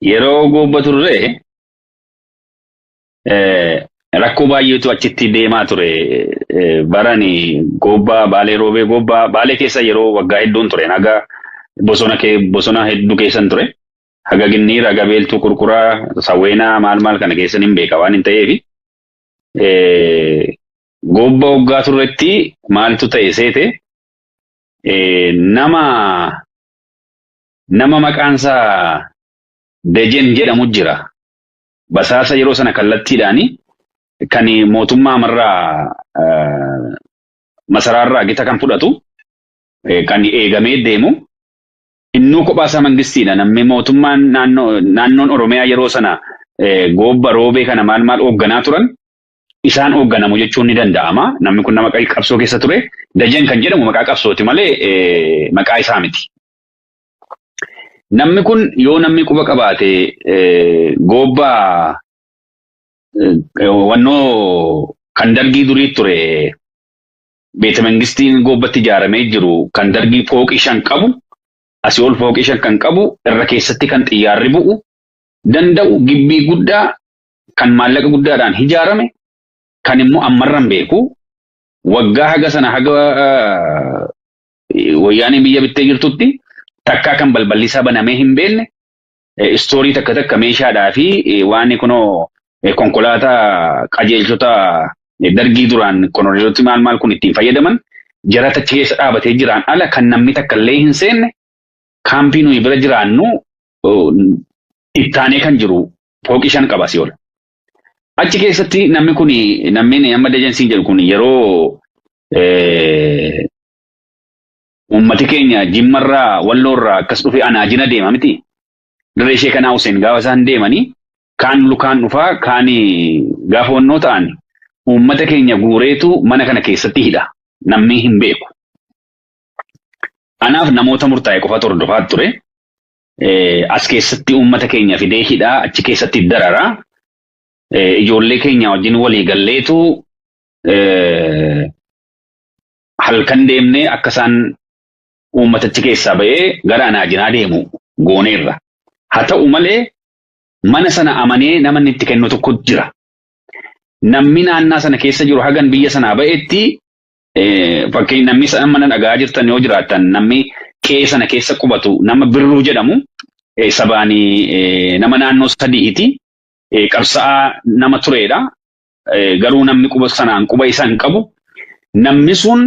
Yeroo goobba turre eh, rakkoo baay'eetu achitti deemaa ture. Eh, Barani goobbaa baalee roobee goobbaa baalee keessa yeroo waggaa hedduun ture. Haga bosona kee bosona hedduu keessan ture. Haga ginniira, haga beeltuu kurkuraa, sawweenaa maal maal kana keessan hin beeka waan hin ta'eef. Eh, Goobba waggaa turretti maaltu ta'e seete eh, nama nama maqaansaa Dejen jedhamu jira. Basaasa yeroo sana kallattiidhaan kan mootummaa marraa masaraarraa gita kan fudhatu kan eegamee deemu innuu kophaasaa mangistiidha. Namni mootummaan naannoon Oromiyaa yeroo sana goobba roobee kana maal maal hoogganaa turan isaan hoogganamu jechuun ni danda'ama. Namni kun nama qabsoo keessa ture. Dajen kan jedhamu maqaa qabsooti malee maqaa isaa miti. Namni kun yoo namni quba qabaate goobbaa wannoo kan dargii durii ture beeta mangistiin goobbatti ijaaramee jiru kan dargii fooqii shan qabu asii ol fooqii shan kan qabu irra keessatti kan xiyyaarri bu'u danda'u gibbii guddaa kan maallaqa guddaadhaan ijaarame kan immoo ammarran beeku waggaa haga sana haga Wayyaaneen biyya bittee jirtutti takkaa kan balballi isaa banamee hin beekne istoorii takka takka meeshaadhaa fi waan kunoo konkolaataa qajeelchota dargii duraan konoreeloti maal maal kun ittiin fayyadaman jarata keessa dhaabatee jiraan ala kan namni takka illee hin seenne kaampii nuyi bira jiraannu ittaanee kan jiru pooqii shan qaba si ol. Achi keessatti namni kun namni amma dajansiin jedhu kun yeroo eh, uummati keenya jimmarraa walloorraa akkas dhufe anaajina deema miti. Dirree ishee kanaa Huseen gaafa isaan deemanii kaan lukaan dhufaa kaan gaafa wannoo ta'an uummata keenya guureetu mana kana keessatti hidha. Namni hin beeku. Anaaf namoota murtaa'e qofatu hordofaa ture. as keessatti uummata keenya fidee hidhaa achi keessatti darara. Ijoollee keenya wajjin walii galleetu halkan deemnee akka isaan uummatichi keessaa ba'ee gara anaajinaa deemu gooneerra. Haa ta'u malee mana sana amanee nama inni itti kennu tokko jira. Namni naannaa sana keessa jiru hagan biyya sanaa ba'etti Fakkeenya namni amma na dhaga'aa jirtan yoo jiraattan namni qe'ee sana keessa qubatu nama birruu jedhamu sabaan nama naannoo sadiiti. Qabsa'aa nama tureedha. Garuu namni quba sanaan quba isa hin qabu. Namni sun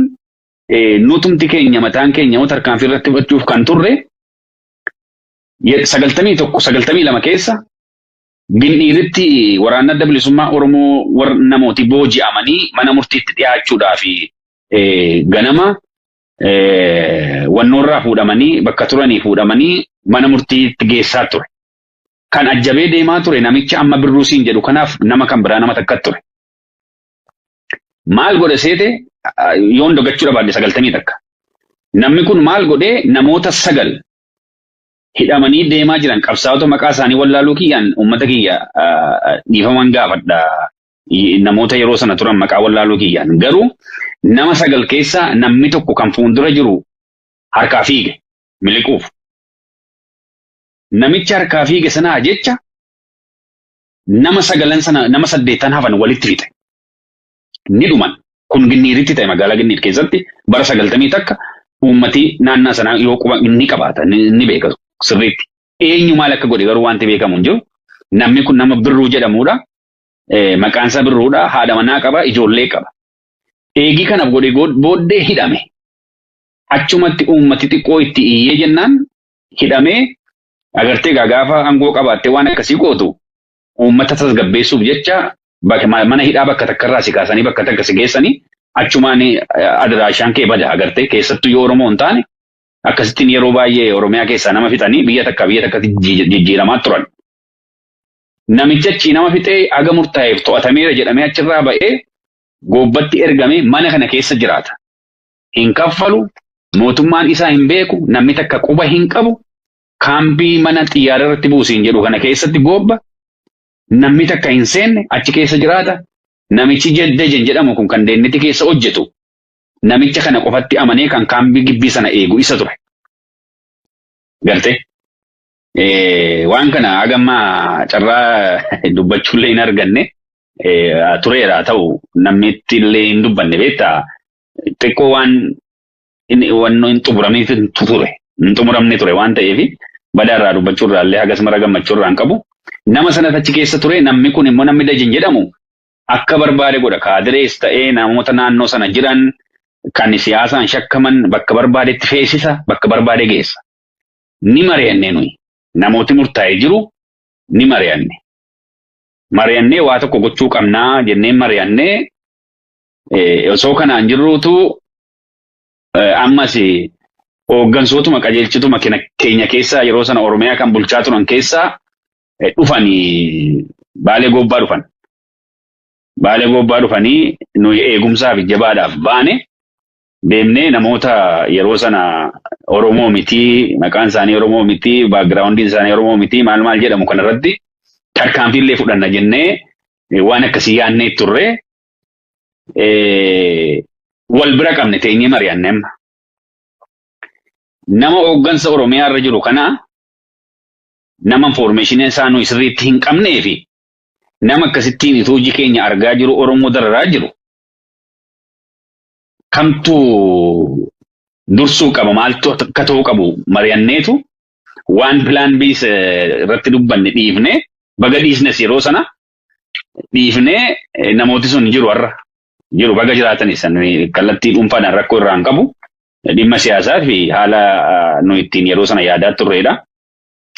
nutumti keenya mataan keenya yoo tarkaanfii irratti fudhachuuf kan turre sagaltamii tokko sagaltamii lama keessa Gindhiiritti waraanni adda bilisummaa Oromoo war namooti booji'amanii mana murtiitti dhiyaachuudhaaf ganama wannoorraa fuudhamanii bakka turanii fuudhamanii mana murtiitti geessaa ture. Kan ajjabee deemaa ture namicha amma birruu siin jedhu kanaaf nama kan biraa nama takka ture. Maal godhe seete yoon dogachuu dhabaadde sagaltamii takka. Namni kun maal godhee namoota sagal hidhamanii deemaa jiran qabsaa'ota maqaa isaanii wallaaluu kiyyaan uummata kiyya dhiifaman gaafadha. Namoota yeroo sana turan maqaa wallaaluu kiyyaan garuu nama sagal keessaa namni tokko kan fuuldura jiru harkaa fiige miliquuf. Namicha harkaa fiige sanaa jecha nama sagalan sana nama saddeettan hafan walitti fixe. ni dhuman. Kun Ginniiritti ta'e magaalaa Ginniir keessatti bara sagaltamii takka uummati naannaa sanaa yoo quba ni qabaata ni beeka sirriitti. Eenyu maal akka godhe garuu wanti beekamu hin jiru. Namni kun nama Birruu jedhamuudha. Maqaan isaa Birruudha. Haadha manaa qaba, ijoollee qaba. Eegii kana godhe booddee hidhame. Achumatti uummati xiqqoo itti iyyee jennaan hidhamee agartee gaafa aangoo qabaattee waan akkasii gootu uummata tasgabbeessuuf jecha bak- ma- mana hidhaa bakka takka irraa si kaasanii bakka takka si geessanii achumaan eh, adiraashaan kee bada agartee keessattuu yoo Oromoo hin taane akkasittiin yeroo baay'ee Oromiyaa keessaa nama fixanii biyya takka biyya takkatti jijji- jijjiiramaa turan. Namichi achii nama fixee haga murtaa'eef to'atameera jedhamee achirraa ba'ee goobbatti ergamee mana kana keessa jiraata. Hin kaffalu, mootummaan isaa hin beeku, namni takka quba hin qabu, kaambii mana xiyyaara irratti buusiin jedhu kana keessatti goobba namni takka hin seenne achi keessa jiraata. Namichi Dejen jedhamu kun kan deenniti keessa hojjetu namicha kana qofatti amanee kan kaambii gibbii sana eegu isa ture. Garte waan kana hagammaa carraa dubbachuullee hin arganne tureera ta'u namni illee hin dubbanne beektaa xiqqoo waan inni wanno hin xumuramiif hin ture hin xumuramne ture waan ta'eef badaa irraa dubbachuu irraa illee hagas mara gammachuu irraa hin qabu. Nama sanas achi keessa ture namni kun immoo namni Dajin jedhamu akka barbaade godha kaadirees ta'ee namoota naannoo sana jiran kan siyaasaan shakkaman bakka barbaadetti feesisa bakka barbaade geessa. Ni mari'annee nuyi namooti murtaa'ee jiru ni mari'anne. Mari'annee waa tokko gochuu qabnaa jennee mari'annee osoo kanaan jirruutu Eh, Ammas eh, hooggansootuma qajeelchituma kena- keenya keessaa yeroo sana Oromiyaa kan bulchaa turan keessaa eh, dhufanii baalee goobbaa dhufan. Baalee goobbaa dhufanii nuyi eegumsaa fi jabaadhaaf baane deemnee namoota yeroo sana Oromoo mitii, maqaan isaanii Oromoo mitii, baagiraawundiin isaanii Oromoo mitii, maal maal jedhamu kanarratti tarkaanfiillee fudhanna jennee eh, waan akkasii yaadnee turre. eh, wal bira qabne teenyee mari'anne amma. Nama hooggansa Oromiyaa irra jiru kana nama infoormeeshinii isaa nuyi sirriitti hin qabnee fi nama akkasittiin ituu hojii keenya argaa jiru Oromoo dararaa jiru kamtu dursuu qaba maaltu akka ta'uu qabu mari'anneetu waan pilaan biis irratti dubbanne dhiifne baga dhiisnes yeroo sana dhiifnee eh, namooti sun jiru har'a. Jiru baga jiraatan isaan nuyi kallattii dhuunfaadhaan rakkoo irraa hin qabu. Dhimma siyaasaa fi haala ah, nu ittiin yeroo sana yaadaa turreedha.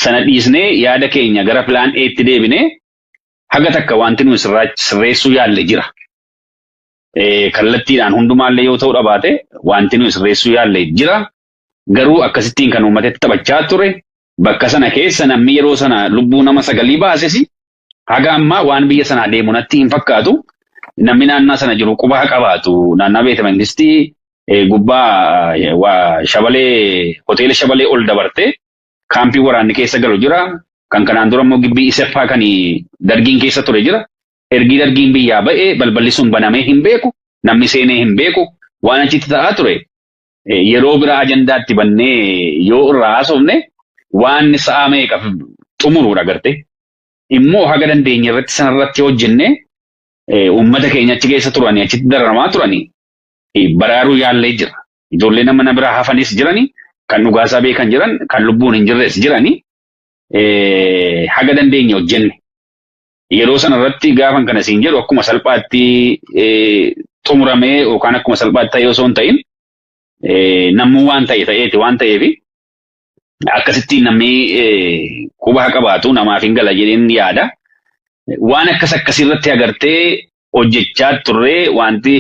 Sana dhiisnee yaada keenya gara pilaan Eetti deebinee haga takka wanti nuyi sirraa- sirreessuu yaalle jira. Eh, Kallattiidhaan hundumaallee yoo ta'uu dhabaate wanti nuyi sirreessuu yaalle jira. Garuu akkasittiin kan uummatatti taphachaa ture bakka sana keessa namni yeroo sana lubbuu nama sagalii baasesi Haga ammaa waan biyya sanaa deemu natti hin fakkaatu. Namni naannaa sana jiru quba haa qabaatu. Naannaa beeta mangistii eh, gubbaa eh, waa shabalee hoteela shabalee ol dabarte kaampii waraanni keessa galu jira. Kan kanaan dura immoo gibbii iseppaa kan dargiin keessa ture jira. Ergii dargiin biyyaa ba'e balballi sun banamee hin beeku. Namni seenee hin beeku. Waan achitti ta'aa ture eh, yeroo biraa ajandaa itti bannee yoo irraa haasofne waan sa'a meeqa xumuruudha garte. Immoo haga dandeenye irratti sanarratti hojjenne eh, uummata keenya achi keessa turanii achitti dararamaa turanii eh, baraaruu yaallee jira. Ijoollee nama na biraa hafanis jirani kan dhugaasaa beekan jiran kan lubbuun hin jirres jirani eh, haga dandeenye hojjenne. yeroo sana irratti gaafan kana siin jedhu akkuma salphaatti xumuramee yookaan akkuma salphaatti ta'ee osoo hin ta'in namuu waan ta'e ta'eeti waan ta'eef akkasitti namni quba haa qabaatu namaaf hin gala jedheen yaada. Waan akkas akkasii irratti agartee hojjechaa turree wanti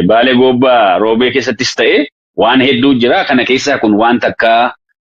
baalee goobbaa roobee keessattis ta'e waan hedduu jira kana keessaa kun waan takka